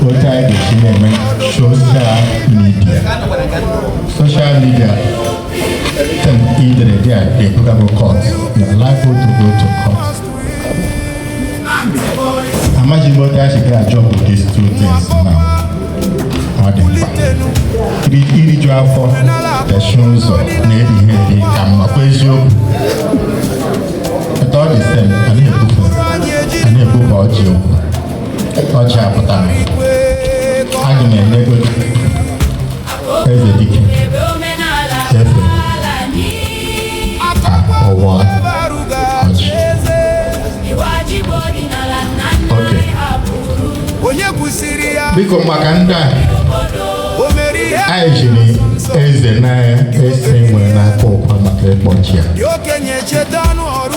otu anyị ga-esi na-eme social media social media tem idere dị a ga-ebugago court na life otu go to court amaghị m otu anyị ga ajọ bụ these two things now ọ dị mkpa iriju afọ dachie ụzọ na erighị eri ka mma kwa eziokwu etu ọ dị sem a na-ebufe a na-ebufe ọjị okwu ọchị apụtara aga m emego eze dike efe ka ọwa ọchị oke onye kwụsịrị ya biko maka ndị a o mere ihe anyị jiri eze n'ise e nwere n'Akọkwa maka ịkpọchi ya dị okenye cheta ọnụ ọrụ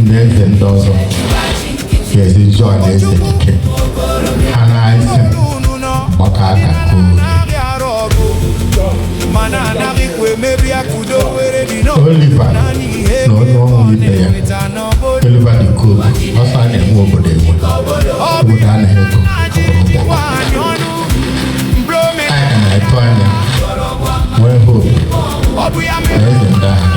ndị eze ndị ọzọ ga-ezi join eze ike ha n'ise gbakọ aka Oliver na onye ọrụ ibe ya Oliver De Coque ọ sị a na-enwe obodo enwe obodo anaghị ego anyị na-atụ anya nwee hope na eze ndị ahụ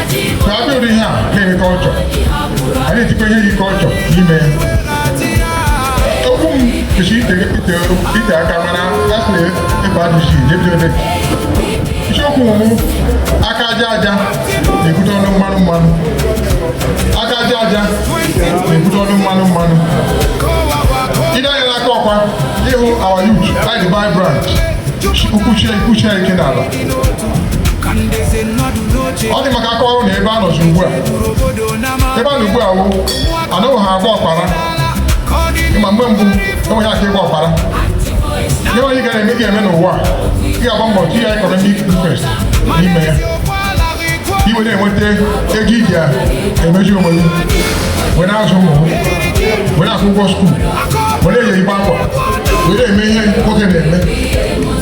na abịa ụdị ihe a na-enye culture a na-etikwa ihe yi culture n'ime ya okwu m kesi ite ite ite aka mana asị ebe adịsi n'ebi ebe isiokwu mụ aka aja aja na-ebute ọnụ mmanụ mmanụ aka aja aja na-ebute ọnụ mmanụ mmanụ i lee anya n'Akọkwa ị hụ our youth like the vibrant kwuchie kwuchie ike n'ala ọ dị m ka a kọrọ na ebe a nọzi ugbu a ebe a nọ ugbu a wụ anụghị ha agba ọkpara ma mgbe mbụ enweghị aka ịgba ọkpara ihe onye ga na-eme ga-eme n'ụwa ị ga-agba mbọ chi ya ịkọrọ ndị Kraịst n'ime ya i wee na-enweta ego i ji emezi onwe gị wee na-azụ ụmụ wee na-akwụ ụgwọ school were eyi igba akwa were eme ihe nwoke na-eme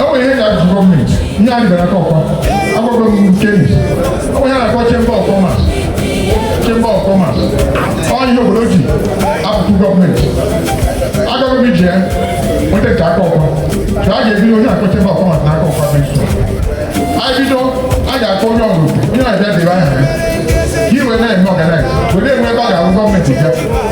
enwere ihe ga-ebute government ihe a gara Akọkwa agwago m keni enwere ihe a na-akpọ chamber of commerce chamber of commerce ọ ihe obodo ji ebute government agwago m iji ya nweta nke Akọkwa ka a ga-ebido ihe a na-akpọ chamber of commerce na Akọkwa bịa anyị bido a ga-akpọ onye ọ bụla onye na-abịa debe aha ya ka e wee na-eme organize were enwe ebe a ga-arịọ government bịa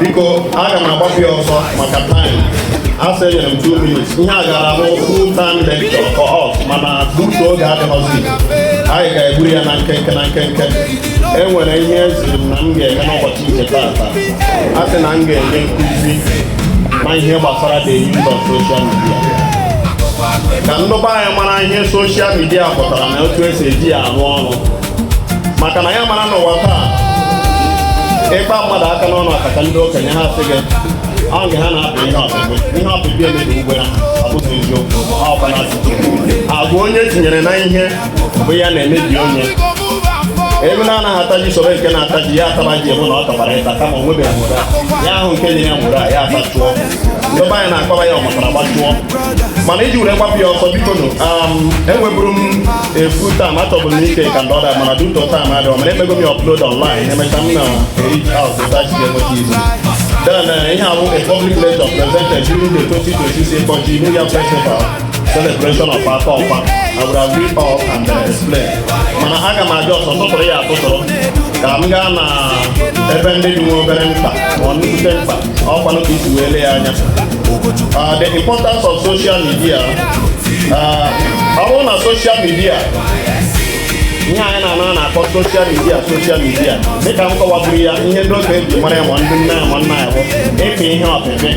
biko aga m agbapụ ya ọsọ maka taịm a sị enyere m 2 minutes ihe a gaara bụ full time lecture for us mana due to oge adịghọzi anyị ga-egburu ya na nkenke na nkenke e nwere ihe eziri m na m ga-eme n'ụbọchị nke taata a sị na m ga-enye nkụzi ma ihe gbasara the use of social media ka ndị be anyị mara ihe soshal midia pụtara na otu esi eji ya arụ ọrụ maka na ya mara n'ụwa taa ị kpaa mmadụ aka n'ọnụ akaka ndị okenye ha asị gị ọ nke ha na-apị ihe ọpịpị ihe ọpịpị emebigwo ha abụghị eziokwu ọkpara agwa onye tinyere na ihe bụ ya na-emebi onye ewu na-anaghị ata ji soro nke na-ata ji ya ataba ji ebe na ọ tọbara ịta kama o nwebeghị nwụra ya ahụ nke nyere ya nwụra ya atachụọ ndị be anyị na-akpara ya ọmatara gbajụọ mana iji were gbapụ ya ọsọ biko nụ um, enweburu m efu taa ma achọbụ m ike ka ndị ọda mana due to taịm adịọ mana emego m ya ọplod ọnlaịn emecha m na erich haus tachi ga-enweta izu then uh, ihe ahụ a public lecture presented during the 2026 Ikọji New Yam Festival celebration of Akọkwa I would have read up and uh, explain mana aga m eji ọsọ tụtụrụ ya atụtụrụ ka m gaa na ebe ndị dị nwa obere mkpa ma ọ nnukwute mkpa ọkwanụ ka i si wee lee ya anya uh, the importance of social media uh, ọ bụrụ na social media ihe anyị na-anọ na-akpọ soshal midia soshal midia dịka m kọwaburu ya ihe ndị okenye ji mara ya ma ndị nne ya ma nna ya bụ ịpị ihe ọpịpị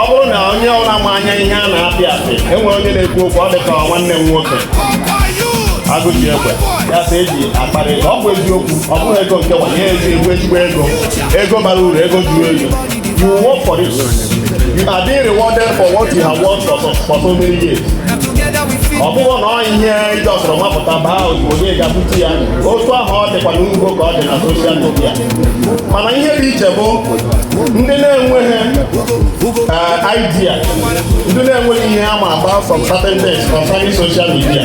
ọ bụrụ na onye ọbụla ma anya ihe a na-apị apị enwere onye na-ekwu okwu ọ dịka nwanne m nwoke agụji egbe ya sị eji akparị ọ bụ eziokwu ọ bụghị ego nke nwa ihe eji egwu ezigbo ego Ego bara uru, ego juru eju. You work for this. You are being rewarded for what you have worked for so, for so many years. Ọ bụghị na ọ ihe ị just wapụta baa ozugbo gị ga-abụtu ya otu ahụ ọ dịkwa n'ugbo ka ọ dị na soshal midia mana ihe dị iche bụ ndị na-enweghị eh, idea ndị na-enweghị ihe ama about some certain things concerning social media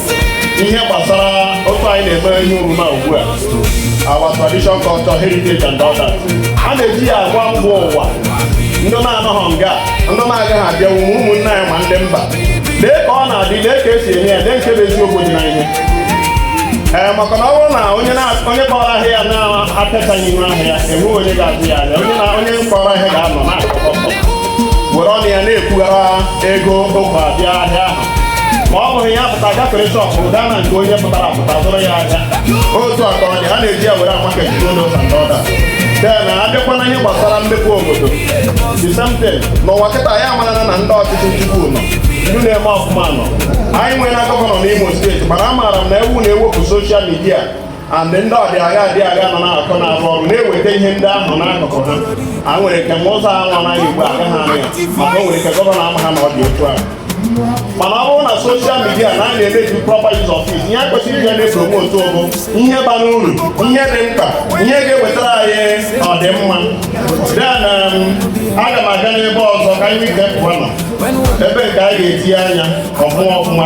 ihe gbasara otu anyị na-eme ihe omume ugbu a our tradition culture heritage and others a na-eji ya agwa mba ụwa ndị na-anọghọ nga ndị na-agaghị abịanwu ma ụmụnne anyị ma ndị mba lee ka ọ na-adị lee ka esi eme ya lee nke bụ eziokwu dị na ihe ee maka na ọ bụrụ na onye onye kpọrọ ahịa ya na-apịachaghị ihu ahịa ya enweghị onye ga-azụ ya ahịa onye na onye kpọrọ ahịa ga-anọ n'ụlọ were ọnụ ya na-ekwughara ego ụkwa bịa ahịa ahụ ma ọ bụghị ya pụta gafere shọpụ gaa na nke onye pụtara apụta zụrụ ya ahịa otu a ka ọ dị ha na-eji ya were amaka jide ụlọ ụka ndị ọda den abịakwa na ihe gbasara mmepe obodo the same thing n'ụwa kịta ya amarana na ndị ọchịchị nchigbu nọ ndị na-eme ọfụma nọ anyị nwere na gọvanọ n'Imo steeti mana amaara m na ọ wụ na ewepụ soshal midia and ndị ọdịagha dị agha nọ na-akọ na-arụ ọrụ na-eweta ihe ndị ahụ n'akụkụ ha o nwere ike ma ụzọ ahụ anaghị ugbu a aga ha anya maka o nwere ike gọvanọ amaha na ọ dị otu ahụ mana ọ bụrụ na soshal midia na anyị na-emeki proper use of it ihe e kwesịrị ị na-epromotu bụ ihe bara uru ihe dị mkpa ihe ga-ewetara anyị ọdịmma then um, aga m aga n'ebe ọzọ ka anyị ike pụọ nọ ebe nke anyị ga-etinye anya ọfụma ọfụma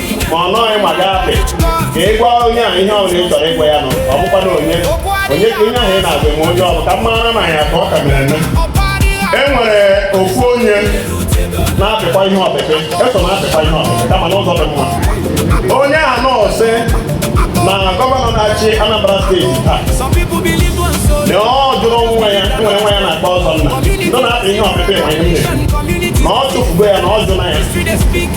ma ọ nọghị ma gaa apị ka ị gwa onye a ihe ọbụla ị chọrọ ịgwa ya na ọ bụkwa na onye onye ka onye ahụ ị na-agwa eme onye ọ bụ ka mara na ya ka ọ ka mere eme e nwere ofu onye na-apịkwa ihe ọpịpị so na-apịkwa ihe ọpịpị kama n'ụzọ dị mma onye a nọọ sị na gọvanọ na-achị Anambra steeti taa na ọ jụrụ nwa ya nwere nwa ya a na-akpọ Ọzọnna nọ na-apị ihe ọpịpị ma ihe na ọ chụfugo ya na ọ jụna ya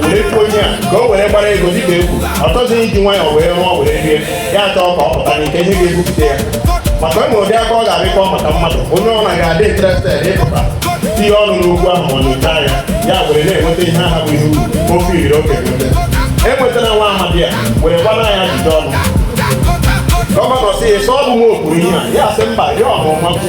were kwuo onye a ka o were gbara ego dịka e kwuru ọ chọghị iji nwayọọ wee rụọ were rie ya chọọ ka ọ pụta n'ike ihe ga-ebupụta ya maka e nwere ụdị akụkọ a ga-akọ maka mmadụ onye ọbụna ga-adị interested ịpụta tinye ọnụ n'okwu ahụ ma nyocha ya ya were na-enweta ihe ahụ bụ ihe uru ofe iriri oge e nwetara nwa amadi a were gbara ya ajụjụ ọnụ gọvanọ sị ya so ọ bụ m kwuru ihe a ya sị mba ya ọhụrụ mmakwu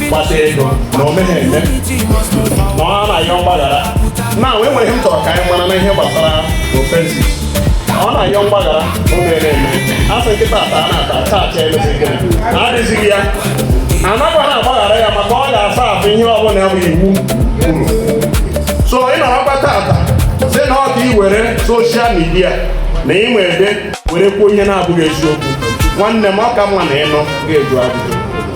gbata ego na o meghị eme na ọ na-ayọ mgbaghara na e nwere ihe m chọrọ ka anyị mara na ihe gbasara offences ọ na-ayọ mgbaghara o mere eme a sị nkịta ata a na-ata ata acha emesịghị na adịzighị ya anakwa ha agbaghara ya maka ọ ga-asuffer ihe ọbụla ya bụ iwu kwuru so ị nọrọkwa tata sị na ọ ka ị were soshal midia na ị nwere ebe were kwuo ihe na-abụghị eziokwu nwanne m ọ ka mma na ị nụ gaa jụọ ajụjụ